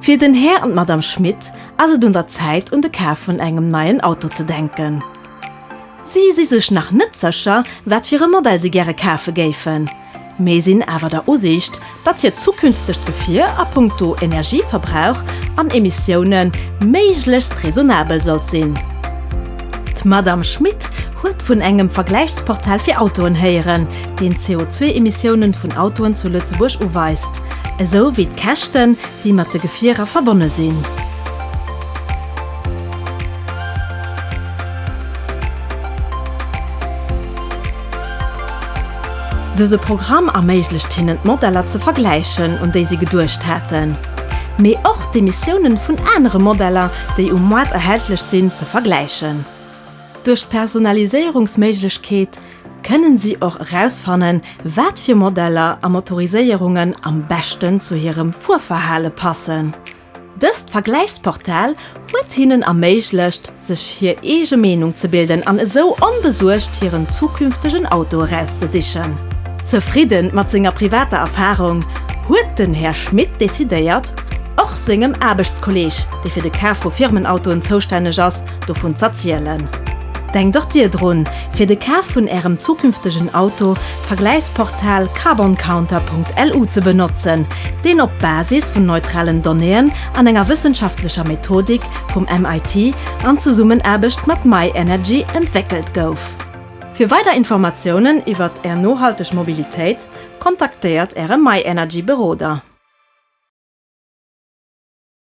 Fir den Här an d'Madame Schmit ass et un der Zäit un de Kaf vun engem neien Auto ze denken. Si si sech nach net sécher wat fir e Modell si gäre kafe géifen. Mee sinn awer der Usiicht, datt hiert zukünftegt Gefier a punkto Energieverbrauch an Emissioune méiglechst raisonnabel sollt sinn. D'Madamm Schmit huet vun engem Vergläichsportal fir Autoen héieren, deen d'CO2-Emissioune vun Autoen zu Lëtzebuerg uweist, esou wéi d'Käschten, déi mat de Gefierer verbonne sinn. Dëse Programm erméiglecht hinnen d'Modeller ze vergläichen, un déi si geduecht haten, mee och d'Emissiounen vun anere Modeller, déi um Moart erhältlech sinn, ze vergläichen. Duerch d'Personaliséierungsméiglechkeet kënnen si och erausfannen, wat fir Modeller a Motoriséierungen am beschten zu hirem Fuerverhale passen. Dëst Vergläichsportal huet hinnen erméiglecht, sech hir eege Meenung ze bilden an esou onbesuergt hiren zukünftegen Auto erauszesichen. Zefridde mat senger privater Erfarung, huet den Här Schmit decidéiert, och sengem Aarbechtskolleeg, dee fir de Kaf vu Firmenautoen zoustänneg ass, dovun z'erzielen. Denkt och Dir drun, fir de Kaf vun Ärem zukünftegen Auto Vergläichsportal carboncounter.lu ze benotzen, deen op Basis vun neutralen Donnéeën an enger wëssenschaftlecher Methodik vum MIT an Zesummenaarbecht mat myenergy entwéckelt gouf. Fir weider Informatiounen iwwert Är nohalteg Mobilitéit, kontaktéiert Äre myenergy Beroder.